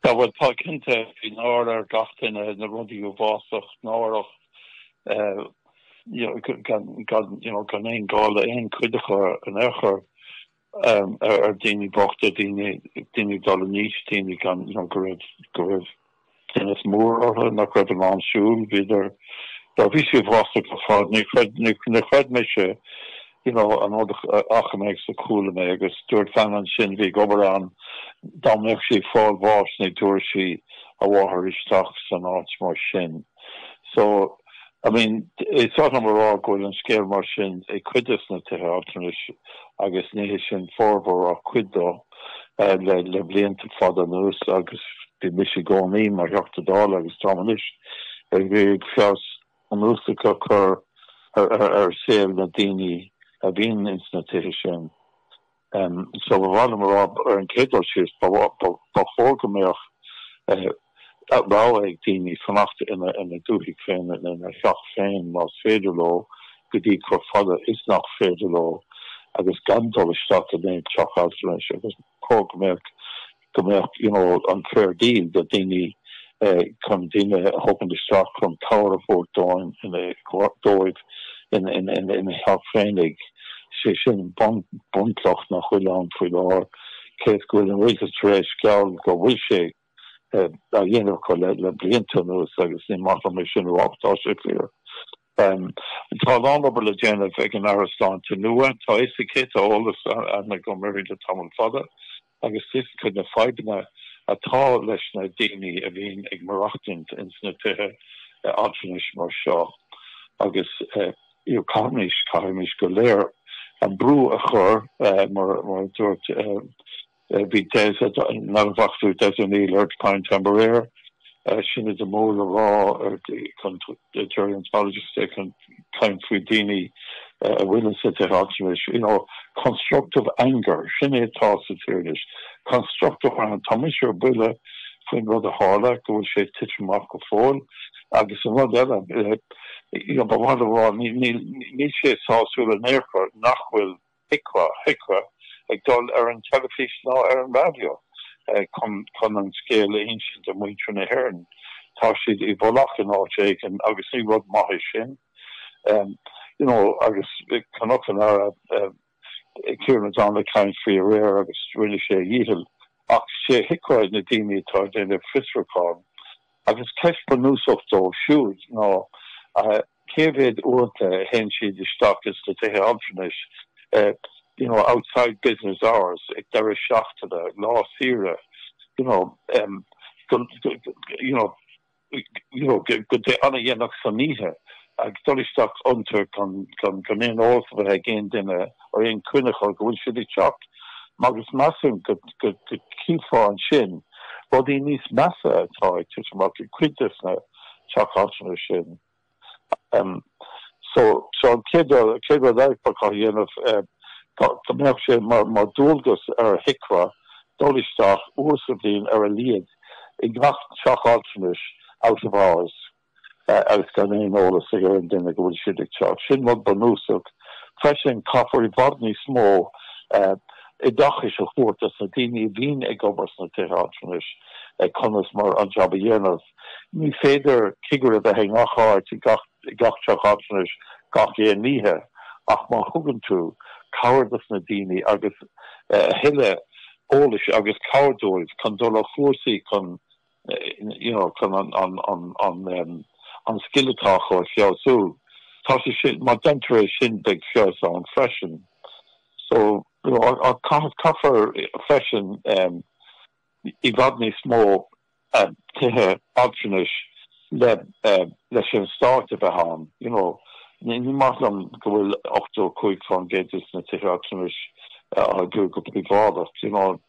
Sea, bhuel, tá cinnte, bhí náire ar gach duine, na rudaí uafásach, náireach, you know, gan aon gá le aon chuid acu in aon chor, ar daoine bochta, daoine ag dul in aois, daoine gan, you know, go raibh, go raibh, tinneas mór orthu nach raibh in ann siúl, bhíodar, á, bhí sé uafásach ar fad, ní chreid, ní chreid mise, you know, an rud a fhaca mé agus a chuala mé, agus dúirt bean ansin a bhí ag obair ann dá mbeadh sí ag fáil bháis, ní thabharfadh sí a mháthair isteach san áit mar sin. So, I mean, is oth liom a rá go bhfuil an scéal mar sin ag cuid des na tithe altranais agus ní hé sin formhór ach cuid dóibh le blianta fada anuas agus bhí mise i gcónaí mar Theachta Dála agus táim anois ag iarraidh ag feabhas bunúsach a chur ar saol na daoine a bhíonn ins na tithe sin. So ba mhaith liom a rá ar an chéad dul síos, ba chóir go mbeadh rogha ag daoine fanacht ina dúthaigh féin, ina theach féin más féidir leo, go dtí chomh fada is nach féidir leo agus gan dul isteach in aon teach altranais agus ba chóir go mbeadh go mbeadh you know an fair deal do daoine chun daoine a thógaint isteach chun cabhair a thabhairt dó ina dóibh ina theach féinig, sé sin bunchloch nach bhfuil ann faoi láthair cé is go bhfuil an rialtas tar éis geall go bhfuil sé á dhéanamh acu le blianta anuas agus ní maith liom é sin a rá ach tá sé fíor. Tá a lán obair le déanamh ag an Aire Sláinte nua. Tá a fhios aici, tá eolas aithne agam uirthi le tamall fada agus fios aici na fadhbanna atá leis na daoine a bhíonn ag maireachtaint ins na tithe altranais mar seo agus caithfimís go léir an brú a chur mar a dúirt Bhí Des, an Dochtúir Des O'Neill ar Prime Time aréir, sin é an mór le rá gerontologist chun caint faoi daoine a bhfuil sa tithe altranais, you know, constructive anger, sin é atá sa tír anois, constructive anger, tá mise ar buile faoin rud a tharla go bhfuil sé tite amach go fóill agus an rud eile, you know, ba mhaith liom a rá níl sé sásúil in aon chor nach bhfuil. HIQA, HIQA, ag dul ar an teilifís ná ar an raidió chun, chun an scéal a insint do mhuintir na hÉireann. Tá siad i bhfolach in áit éigin agus ní rud maith é sin. You know, agus chonac an Aire Kieran O'Donnell ag caint faoi aréir agus rinne sé a dhícheall ach sé HIQA na daoine atá ag déanamh fiosrúchán agus ceist bhunúsach dóibh siúd ná, cé mhéad uaireanta a théann siad isteach ins na tithe altranais you know outside business hours ag deireadh seachtaine, lá saoire you know em go you know you know go dtí an-dhéanach san oíche ag dul isteach iontu gan gan aon eolas a bheith ag aon duine or aon choinne acu go bhfuil siad ag teacht agus measaim go go go gcífeá ansin rudaí níos measa atá ag titim amach i gcuid des na teach altranais sin. So, seo an chéad chéad rud eile fágtha a dhéanamh, go mbeadh sé mar dualgas ar HIQA dul isteach uair sa bhliain ar a laghad i ngach teach altranais out of hours agus gan aon eolas ag aon duine go bhfuil siad ag teacht. Sin rud bunúsach. Freisin, caithfear i bhfad níos mó oideachais a thabhairt dos na daoine a bhíonn ag obair sna tithe altranais, conas mar an jab a dhéanamh. Ní féidir cigire a bheith i ngach áit i gach teach altranais gach aon oíche ach má thugann tú cabhair dos na daoine agus a thuilleadh eolais agus cabhair dóibh chun dul ar chúrsaí chun you know chun an scil atá acu a fheabhsú tá sé sin, má deintear é sin beidh feabhas ann freisin. So you know caithfear freisin i bhfad níos mó tithe altranais leis an Stáit a bheith ann, you know. Ní maith liom go bhfuil 85% des na tithe altranais á gcur go príobháideach, you know.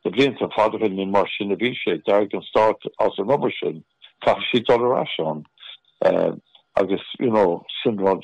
Na blianta fada ó shin ní mar sin a bhí sé. D'éirigh an Stát as an obair sin. Caithfidh siad dul ar ais ann agus you know sin rud.